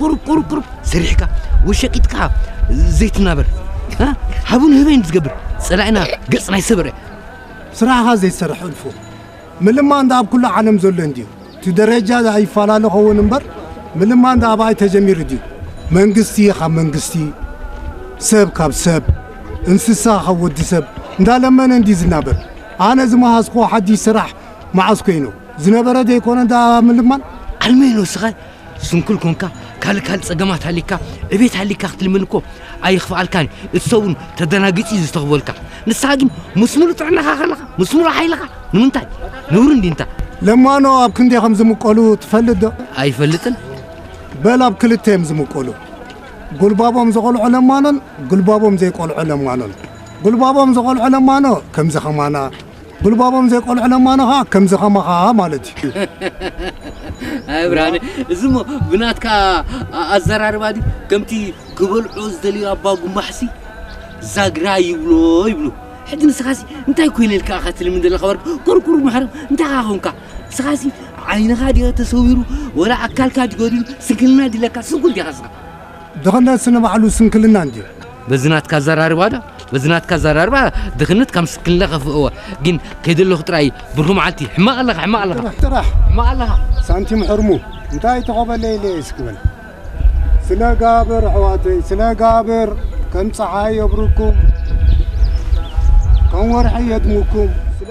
ቁሩብ ቁሩብ ቁሩብ ሰሪሕካ ወሸቂጥካ ዘይትናበር ሃቡን ህበይን ዝገብር ጸላኢና ገጽ ናይ ሰበረ ስራሕኻ ዘይትሰርሕ እልፉ ምልማን እንዳ ኣብ ኩሉ ዓለም ዘሎ እንድዩ እቲ ደረጃ ይፈላለ ኸውን እምበር ምልማን እንዳ ኣባይ ተጀሚሩ ድዩ መንግስቲ ካብ መንግስቲ ሰብ ካብ ሰብ እንስሳ ካብ ወዲ ሰብ እንዳለመነ እንዲ ዝናበር ኣነ ዝመሃዝክዎ ሓድሽ ስራሕ መዓስ ኮይኑ ዝነበረ ዘይኮነ እንዳ ምልማን ኣልመይኖ ስኻ ስንኩል ኮንካ ካልእ ካልእ ጸገማት ሃሊካ ዕቤት ሃሊካ ክትልምን እኮ ኣይኽፍኣልካን እቲ ሰብ እውን ተደናጊጹ እዩ ዝተኽበልካ ንስኻ ግን ምስ ሙሉእ ጥዕናኻ ከለኻ ምስ ሙሉእ ሓይልኻ ንምንታይ ንብሩ እንዲንታ ለማኖ ኣብ ክንደይ ከም ዝምቀሉ ትፈልጥ ዶ? ኣይፈልጥን። በል ኣብ ክልተ እዮም ዝምቀሉ፣ ጉልባቦም ዝቆልዖ ለማኖን ጉልባቦም ዘይቆልዖ ለማኖን። ጉልባቦም ዝቆልዖ ለማኖ ከምዚ ከማና ጉልባቦም ዘይቆልዑ ለማኖ ከኣ ከምዚ ከማኻ ማለት እዩ። ኣይ ብርሃነ እዚ እሞ ብናትካ ኣ- ኣዘራርባ ድዩ ከምቲ ክበልዑ ዝደልዩ ኣባጉማሕሲ ዛግራ ይብሎ ይብሉ ሕጂ ንስኻሲ እንታይ ኮይነልካ ኢኻ ትልምን ዘለኻ ወርቂ ኩርኩር መሕረም እንታይ ኢኻ ኮንካ ንስኻሲ ዓይንኻ ድዮ ተሰዊሩ ወላ ኣካልካ ድዩ ጎዲሉ ስንክልና ድለካ ስንኩል ዲኻ ንስኻ ድኽነትስ ንባዕሉ ስንክልና እንድዩ። በዚ ናትካ ኣዘራርባ ዶ በዚ ናትካ ኣዘራርባ ድኽነት ካም ስንክልና ከፍእዎ ግን ከይደለኹ ጥራይ ብርኹ መዓልቲ ሕማቕ ኣለኻ ሕማቕ ኣለኻ ጥራሕ ጥራሕ ሕማቕ ኣለኻ ሳንቲም ሕርሙ እንታይ ተኸበለይ ኢለ እስኪ በል ስነ ጋብር ኣሕዋተይ ስነ ጋብር ከም ፀሓይ የብርኩም ከም ወርሒ የድምኩም ስለ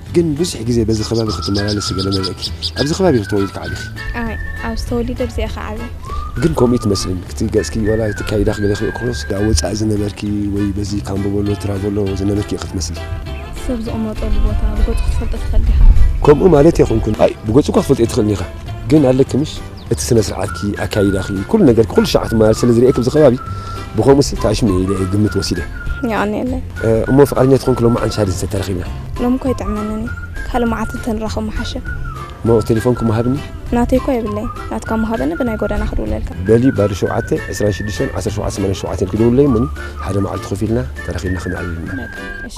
ግን ብዙሕ ግዜ በዚ ከባቢ ክትመላለሲ ገለ መለእኪ ኣብዚ ከባቢ ኢኺ ተወሊድኪ ዓቢኺ? ኣይ ኣብዚ ተወሊደ ኣብዚየ እኻ ዓብየ። ግን ኮምኡ ኣይትመስልን ክቲ ገጽኪ ዋላ እቲ ኣካይዳኺ ገለ ክሪኦ ከሎስ ዳኣ ወጻኢ ዝነበርኪ ወይ በዚ ካምቦበሎ ትራቮሎ ዝነበርኪ ኢኺ ትመስሊ። ሰብ ዝቕመጠሉ ቦታ ብገጹ ክትፈልጦ ትኽእል ዲኻ? ኮምኡ ማለተይ ኣይኮንኩን። ኣይ ብገጹ እኳ ክትፈልጦ ኣይትኽእልን ኢኻ ግን ኣለኪ ምሽ። እቲ ስነ ስርዓትኪ ኣካይዳኺ ኩሉ ነገርኪ ኩሉ ሻዕ ክትመላለስ ስለ ዝርኤኪ ኣብዚ ከባቢ ብከምኡስ ተኣሽሙ እየ ኢለ እየ ግምት ወሲደ የቀንየለይ እሞ ፍቃደኛ ትኾንኪ ሎማዓንቲ ሻድን ሰብ ተራኺብና ሎሚ እኮ ይጥዕመንን እዩ ካልእ መዓልቲ እንተንራኸብ ምሓሸ እሞ ቴሌፎንኪ ምሃብኒ ናተይ እኮ የብለይ ናትካ ምሃበኒ ብናይ ጎደና ክድውለልካ በሊ ባዶ ሸውዓተ ዕስራን ሽዱሽተን ዓሰርተ ሸውዓተ ሰማንያን ሸውዓተን ክድውለይ እሞኒ ሓደ መዓልቲ ኮፍ ኢልና ተራኺብና ክነዕልል ኢና በቃ እሺ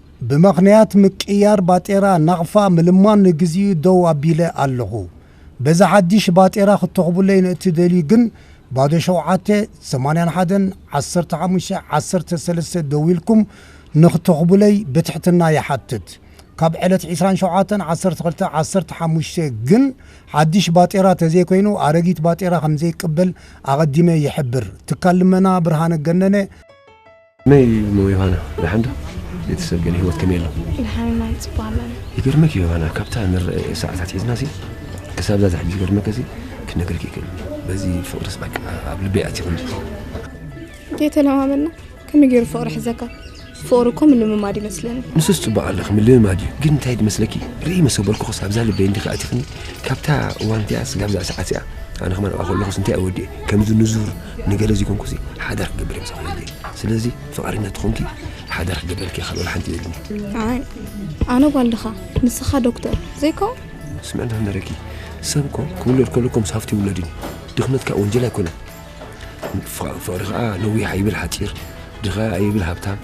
ብምኽንያት ምቅይያር ባጤራ ናቕፋ ምልማን ንግዚኡ ደው ኣቢለ ኣለኹ። በዚ ሓዲሽ ባጤራ ክትተኹቡለይ ንእትደልዩ ግን ባዶ ሸውዓተ፣ ሰማንያን ሓደን፣ ዓሰርተ ሓሙሽተ፣ ዓሰርተ ሰለስተ ደዊልኩም ንክተኹቡለይ ብትሕትና ይሓትት። ካብ ዕለት ዕስራን ሸውዓተን ዓሰርተ ክልተ ዓሰርተ ሓሙሽተ ግን ሓዲሽ ባጤራ ተዘይኮይኑ ኣረጊት ባጤራ ከምዘይቅበል ኣቐዲመ ይሕብር። ትካል ልመና ብርሃነ ገነነ። ከመይ እሞ ዮሃና ደሓን ዶ? ቤተሰብ ገለ ህይወት ከመይ ኣሎ? ደሓን ኢና ንጽባ ኣለና። ይገርመኪ ዮሃና ካብታ ንርእ ሰዓት ኣትሒዝናሲ ክሳብዛ ዝሕጂ ዝገርመከሲ ክነግረኪ ይክእል በዚ ፍቅርስ በቃ ኣብ ልበይ ኣትዩ ከምዚ ተተለማመድና ከመይ ገይሩ ፍቅሪ ሕዘካ ፍቅሪ እኮ ምልምማድ ይመስለኒ ንሱስ ፅቡቅ ኣለኺ ምልምማድ እዩ ግን እንታይ ድመስለኪ ርኢ መሰበልኩኸስ ኣብዛ ልበይ እንዲኺ ኣቲኽኒ ካብታ እዋን እቲኣ ስጋብ እዛ ሰዓት እዚኣ ኣነ ከማን ኣብኣ ከለኹስ እንታይ እወዲእ ከምዚ ንዙር ንገለ ዘይኮንኩሲ ሓደራ ክገብር እየ ዝኽእል ስለዚ ፍቃደኛ ትኾንኪ ሓደራ ክገብረልኪ ካልእ ወላ ሓንቲ የብልኒ ኣነ ጓልድኻ ንስኻ ዶክተር ዘይከው ስምዕና ንረኪ ሰብ እኮ ክውለድ ከሎ ከምስ ሃፍቲ ይውለድ እዩ ድኽነት ከዓ ወንጀል ኣይኮነን ፍቕሪ ከዓ ነዊሕ ኣይብል ሓፂር ድኻ ኣይብል ሃብታም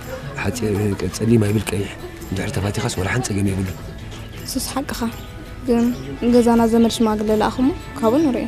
ፀሊም ኣይብል ቀይሕ እንድሕሪ ተፋቲኻስ ወላ ሓን ፀገም የብሉ ሱስ ሓቅኻ ግን ገዛና ዘመድ ሽማግለ ለኣኹሞ ካብኡ ንሪኦ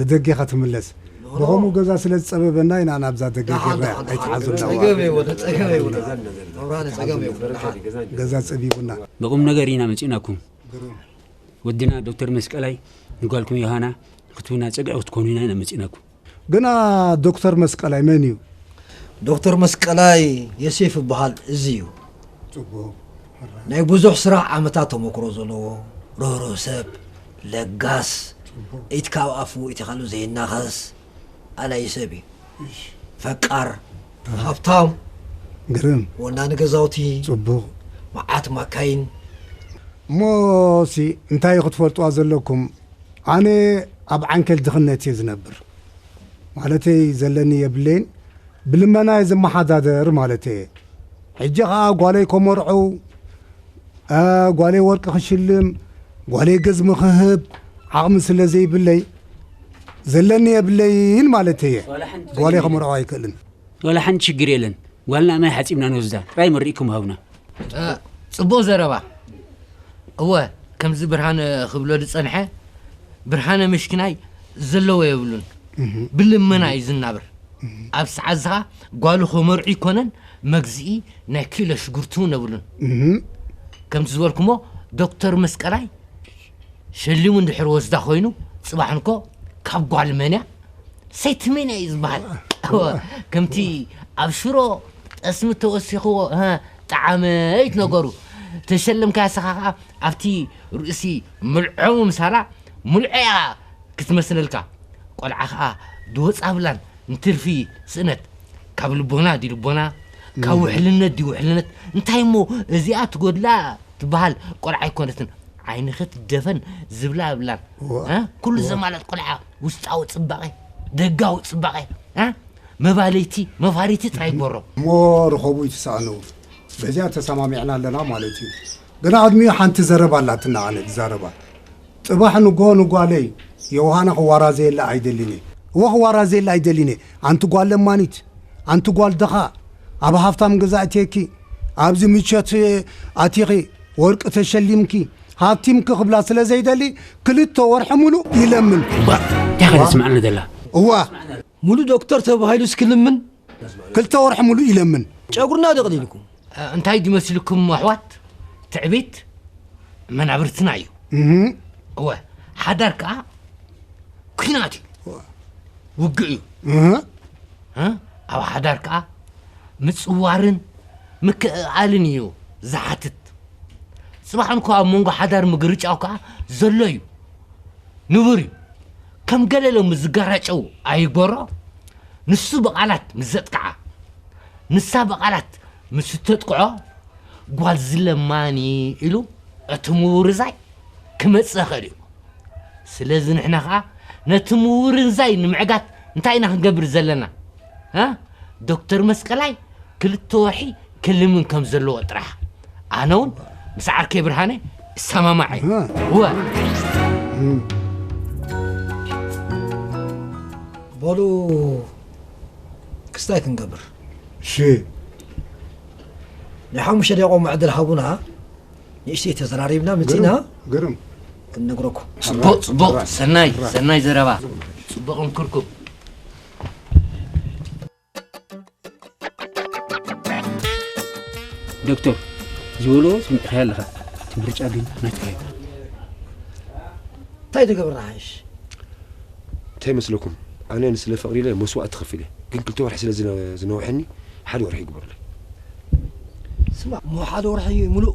ንደጌኻ ትምለስ ብኸምኡ ገዛ ስለ ዝጸበበና ኢና ናብዛ ደገ ጌርናያ ኣይትሓዙልና ገዛ ጸቢቡና። ንቁምነገር ኢና መጺእናኩም ወድና ዶክተር መስቀላይ ንጓልኩም ዮሃና ንክትብና ጸግዒ ክትኮኑና ኢና መጺእናኩም። ግና ዶክተር መስቀላይ መን እዩ? ዶክተር መስቀላይ የሴፍ ይበሃል እዚ እዩ። ናይ ብዙሕ ስራሕ ዓመታት ተሞክሮ ዘለዎ ርህሩህ ሰብ ለጋስ ኢድ ካብ ኣፉ ኢትኸሉ ዘይናኸስ ኣላዪ ሰብ እዩ ፈቃር ሃብታም ግርም ወናኒ ገዛውቲ ጽቡቕ መዓት ማካይን እሞ ሲ እንታይ ክትፈልጥዋ ዘለኩም ኣነ ኣብ ዓንኬል ድኽነት እየ ዝነብር ማለተይ ዘለኒ የብለይን ብልመና እየ ዝመሓዳደር ማለተይ እየ ሕጂ ከኣ ጓለይ ኮመርዕው ጓለይ ወርቂ ክሽልም ጓለይ ገዝሚ ክህብ ዓቕሚ ስለ ዘይብለይ ዘለኒ የብለይን ማለት እየ ጓለይ ከመርዖ ኣይክእልን ዋላ ሓንቲ ሽግር የለን ጓልና ማይ ሓፂብና ንወስዳ ጥራይ መሪእኩም ሃብና ፅቡቕ ዘረባ እወ ከምዚ ብርሃነ ክብሎ ዝፀንሐ ብርሃነ ምሽኪናይ ዘለዎ የብሉን ብልመና እዩ ዝናብር ኣብ ሰዓት ዝኻ ጓሉ ክምርዑ ይኮነን መግዝኢ ናይ ኪሎ ሽጉርቲ ውን የብሉን ከምቲ ዝበልኩሞ ዶክተር መስቀላይ ሸሊሙ እንድሕር ወስዳ ኮይኑ ጽባሕ እንኮ ካብ ጓል መንያ ሰይቲ መንያ እዩ ዝበሃል ከምቲ ኣብ ሽሮ ጠስሚ ተወሲኽዎ ጣዓመይት ነገሩ ተሸለምካያ ሰኻ ከዓ ኣብቲ ርእሲ ምልዖሙ ምሳላ ምልዖያ ክትመስለልካ ቆልዓ ከኣ ድወጻብላን ንትርፊ ስእነት ካብ ልቦና ድዩ ልቦና ካብ ውሕልነት ድዩ ውሕልነት እንታይ እሞ እዚኣ ትጎድላ ትበሃል ቆልዓ ኣይኮነትን ዓይንኺ ትደፈን ዝብላ የብላን እ? ኩሉ ዘማልእ ቆልዓ ውስጣዊ ጽባቐ ደጋዊ ጽባቐ እ? መባልይቲ መፋሪቲ ጥራይ ይግበሮ እሞ ርኸቡ ይትሳእኑ በዚኣ ተሰማሚዕና ኣለና ማለት እዩ ግና ኣድሚኡ ሓንቲ ዘረባ ኣላትና ኣነ ድዛረባ ጽባሕ ንግሆ ንጓለይ ዮውሃና ክዋራዘየላ ኣይደልን እየ። እወ ክዋራዘየላ ኣይደልን እየ። ኣንቲ ጓል ለማኒት፣ ኣንቲ ጓል ድኻ፣ ኣብ ሃፍታም ገዛ ኣእትየኪ፣ ኣብዚ ምቾት ኣቲኺ፣ ወርቂ ተሸሊምኪ፣ ሃብቲምኪ ክብላ ስለ ዘይደሊ ክልተ ወርሒ ምሉእ ይለምን። እባ እንታይ ከ እዋ! ተስምዓኒ ዘላ? እዋ! ምሉእ ዶክተር ተባሂሉስ ክልምን? ክልተ ወርሒ ሙሉእ ይለምን። ጨጉርና ደቕሊልኩም እንታይ ድዩ መሲልኩም ኣሕዋት ትዕቢት መናብርትና እዩ እወ ሓዳር ከዓ ኩናት እዩ ውግእ እዩ ኣብ ሓዳር ከዓ ምፅዋርን ምክእኣልን እዩ ዝሓትት ፅባሕ እንኳ ኣብ መንጎ ሓዳር ምግርጫው ከዓ ዘሎ እዩ ንቡር እዩ ከም ገለ ሎሚ ዝገራጨው ኣይግበሮ፣ ንሱ ብቓላት ምስ ዘጥቅዓ፣ ንሳ ብቓላት ምስ እተጥቅዖ፣ ጓል ዝለማኒ ኢሉ እቲ ምውርዛይ ክመጽእ ይኽእል እዩ። ስለዚ ንሕና ከኣ ነቲ ምውርንዛይ ንምዕጋት እንታይ ኢና ክንገብር ዘለና? እ ዶክተር መስቀላይ ክልተ ወርሒ ክልምን ከም ዘለዎ ጥራሕ። ኣነ እውን ምስ ዓርከይ ብርሃነ እሰማማዕ እየ እወ በሉ ክስታይ ክንገብር ሽ ናይ ሓሙሽተ ደቂቆ መዕድል ሃቡና ንእሽተይ ተዘራሪብና ምፅና ግርም ክንነግረኩም ፅቡቅ ፅቡቅ ሰናይ ሰናይ ዘረባ ፅቡቅ ምክርኩም ዶክተር ዝበሎ ስምዕካዮ ኣለኻ እቲ ምርጫ ግን ናትካ እዩ እንታይ ትገብር ንሓይሽ እንታይ መስለኩም ኣነ ንስለ ፍቕሪ ኢለ መስዋእቲ ከፊለ ግን ክልተ ወርሒ ስለ ዝነውሐኒ ሓደ ወርሒ ይግበሩለይ ስማ እሞ ሓደ ወርሒ ሙሉእ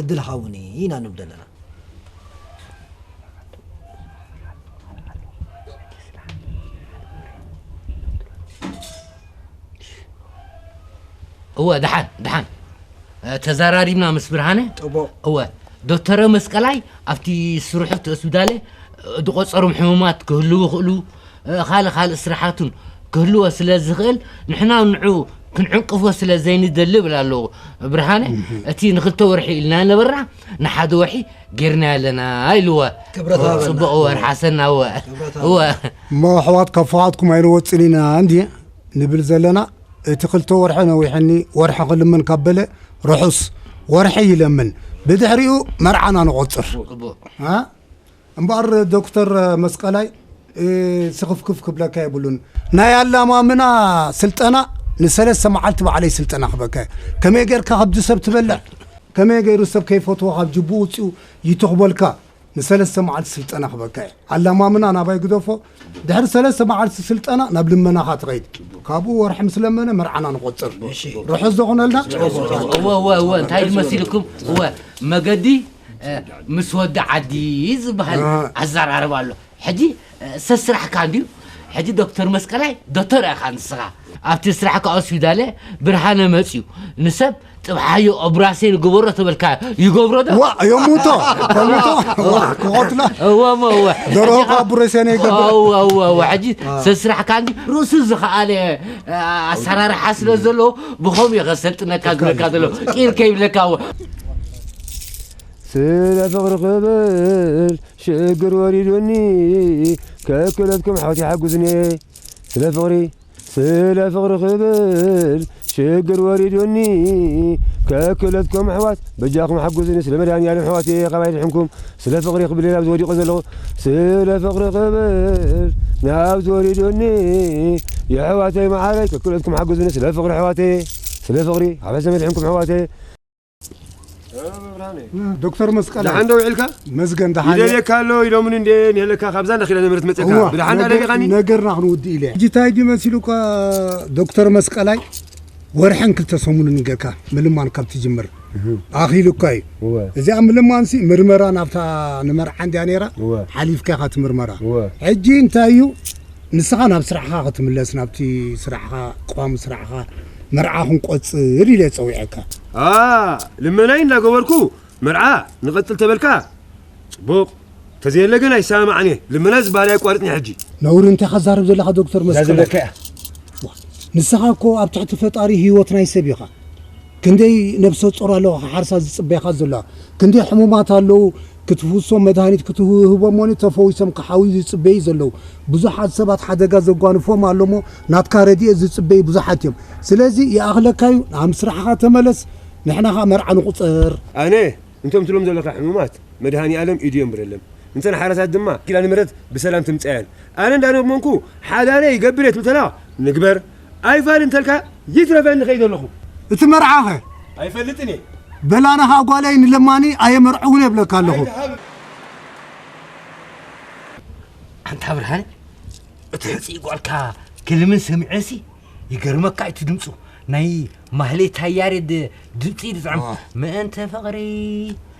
ዕድል ሃቡኒ ኢና ንብል ዘለና። እወ ደሓን ደሓን ተዘራሪብና ምስ ብርሃነ ጥቦ እወ ዶክተረ መስቀላይ ኣብቲ ስርሑ እቲ ሆስፒታለ ዝቆፀሮም ሕሙማት ክህልው ይኽእሉ ካልእ ካልእ ስራሓቱን ክህልዎ ስለ ዝኽእል ንሕና ንዑ ክንዕንቅፎ ስለ ዘይንደሊ ብል ኣለዎ ብርሃነ እቲ ንክልተ ወርሒ ኢልና ነበርና ንሓደ ወርሒ ጌርና ኣለና ኢልዎ ፅቡቅ እወ ርሓሰና እወ እወ እሞ ኣሕዋት ካብ ፍቓድኩም ኣይንወፅን ኢና እንዲ ንብል ዘለና እቲ ክልተ ወርሒ ነዊሕኒ ወርሒ ክልምን ካብ በለ ርሑስ ወርሒ ይለምን ብድሕሪኡ መርዓና ንቆፅር እምበኣር ዶክተር መስቀላይ ስኽፍክፍ ክብለካ የብሉን ናይ ኣላማምና ስልጠና ንሰለስተ መዓልቲ ባዕለይ ስልጠና ክበካ እየ ከመይ ጌርካ ከብዲ ሰብ ትበልዕ ከመይ ገይሩ ሰብ ከይፈትዎ ካብ ጅብኡ ውፅኡ ይትኽበልካ ንሰለስተ መዓልቲ ስልጠና ክበካ እየ ኣላማምና ናባይ ግደፎ ድሕሪ ሰለስተ መዓልቲ ስልጠና ናብ ልመናኻ ትኸይድ ካብኡ ወርሒ ምስ ለመነ መርዓና ንቆፅር ርሑስ ዘኹነልና እወ እወ እወ እንታይ ድመሲልኩም እወ መገዲ ምስ ወዲ ዓዲ ዝበሃል ኣዘራርባ ኣሎ ሕጂ ሰብ ስራሕካ እንድዩ ሕጂ ዶክተር መስቀላይ ዶተር ኢኻ ንስኻ ኣብቲ ስራሕካ ኦስፒዳለ ብርሃነ መፅዩ ንሰብ ጥብሓዮ ኦብራሴን ግበሮ ተበልካ ይገብሮ ዶ ዋ የሙቶ የሙቶ ክቆትላ እወ እወ ደረሆ ኦብራሴን ይገብር እወ እወ ሕጂ ሰብ ስራሕካ እንዲ ርእሱ ዝኸኣለ ኣሰራርሓ ስለ ዘሎ ብኸምኡ የኸሰልጥነካ ዝብለካ ዘሎ ቂር ከይብለካ እወ ስለ ፍቅሪ ክብል ሽግር ወሪዱኒ ከክለትኩም ሓውቲ ሓጉዝኒ ስለ ፍቅሪ ስለ ፍቅሪ ክብል ሽግር ወሪዱኒ ከክለትኩም ኣሕዋት በጃኩም ሓጉዝኒ ስለ መድሃኒኣለም ኣሕዋት ካባይ ድሕንኩም ስለ ፍቅሪ ክብል ናብ ዝወዲቆ ዘለኹ ስለ ፍቅሪ ክብል ናብ ዝወሪዱኒ የሕዋተይ መዓረይ ከክለትኩም ሓጉዝኒ ስለ ፍቅሪ ኣሕዋተይ ስለ ፍቅሪ ኣብ ሕሰ መድሕንኩም ኣሕዋተይ ዶክተር መስቀል ደሓን ዶ ውዒልካ መዝገን ደሓን ይደልየካ ኣሎ ኢሎምኒ እንደ ንሄለካ ካብዛ እንዳ ኪዳነ ምሕረት መፅእካ ብደሓን ዳ ደሊኻኒ ነገርና ክንውድእ ኢለ ሕጂ እንታይ ድዩ መሲሉካ ዶክተር መስቀላይ ወርሕን ክልተ ሰሙንን ገርካ ምልማን ካብ ትጅምር ኣኺሉካ እዩ እዚኣ ምልማንሲ ምርመራ ናብታ ንመርዓ እንድያ ነይራ ሓሊፍካ ኢኻ እቲ ምርመራ ሕጂ እንታይ እዩ ንስኻ ናብ ስራሕኻ ክትምለስ ናብቲ ስራሕኻ ቋሚ ስራሕኻ መርዓ ክንቆጽር ኢለ ጸዊዐካ። ኣኣ ልመናይ እንዳገበርኩ መርዓ ንቐጽል ተበልካ ጽቡቕ ተዘየለ ግን ኣይሰማማዕን እየ ልመና ዝበሃል ኣየቋርጽን ሕጂ። ነውሪ እንታይ እኻ ትዛረብ ዘለኻ ዶክተር መስቀላይ። ንስኻ እኮ ኣብ ትሕቲ ፈጣሪ ሂወት ናይ ሰብ ኢኻ። ክንደይ ነብሰጾር ኣለዋ ክሓርሳ ዝጽበያኻ ዘሎዋ ክንደይ ሕሙማት ኣለዉ ክትፍውሶም መድሃኒት ክትህቦም ወኒ ተፈዊሶም ክሓውዩ ዝጽበዩ ዘለዉ ብዙሓት ሰባት ሓደጋ ዘጓንፎም ኣሎሞ ናትካ ረዲኤት ዝጽበዩ ብዙሓት እዮም ስለዚ ይኣኽለካዩ ናብ ስራሕኻ ተመለስ ንሕና ከኣ መርዓ ንቁጸር። ኣነ እንቶም ትብሎም ዘለካ ሕሙማት መድሃኒኣለም ኢዱ የንብረለም እንተን ሓራሳት ድማ ኪዳነምህረት ብሰላም ትምጻየን ኣነ እንዳለመንኩ ሓዳነይ ገብሬ ትብል ተላ ንግበር ኣይፋል እንተልካ ይትረፈኒ ከይደ ኣለኹ። እቲ መርዓ ከ? ኣይፈልጥን እየ። በል ኣነ ከኣ ጓለይ ንለማኒ ኣየመርዕውን እብለካ ኣለኹ። ኣንታ ብርሃነ እቲ ሕጽይ ጓልካ ክልምን ሰሚዐሲ ይገርመካ እቲ ድምፁ ናይ ማህሌታይ ያሬድ ድምፂ ድጥዕም ምእንተ ፍቕሪ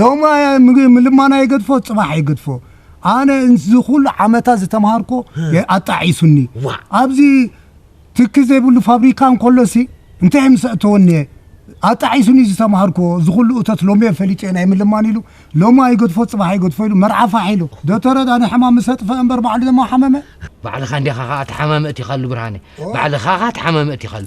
ሎሚ ምልማና ይገድፎ ጽባሕ ይገድፎ ኣነ እዚ ኩሉ ዓመታት ዝተምሃርኮ ኣጣዒሱኒ ኣብዚ ትኪ ዘይብሉ ፋብሪካ እንከሎሲ እንታይ ምስ ኣእተወኒ እየ ኣጣዒሱኒ ዝተምሃርኮ እዚ ኩሉ እቶት ሎሚ እየ ፈሊጠ ናይ ምልማን ኢሉ ሎማ ይገድፎ ጽባሕ ይገድፎ ኢሉ መርዓ ፋሕ ኢሉ ዶተረ ዳኒ ሕማም ምስ ኣጥፈ እምበር ባዕሉ ድማ ሓመመ ባዕልኻ እንዲኻ ኸኣ ተሓማሚ እቲኻሉ ብርሃነ ባዕልኻ ኸኣ ተሓማሚ እቲኻሉ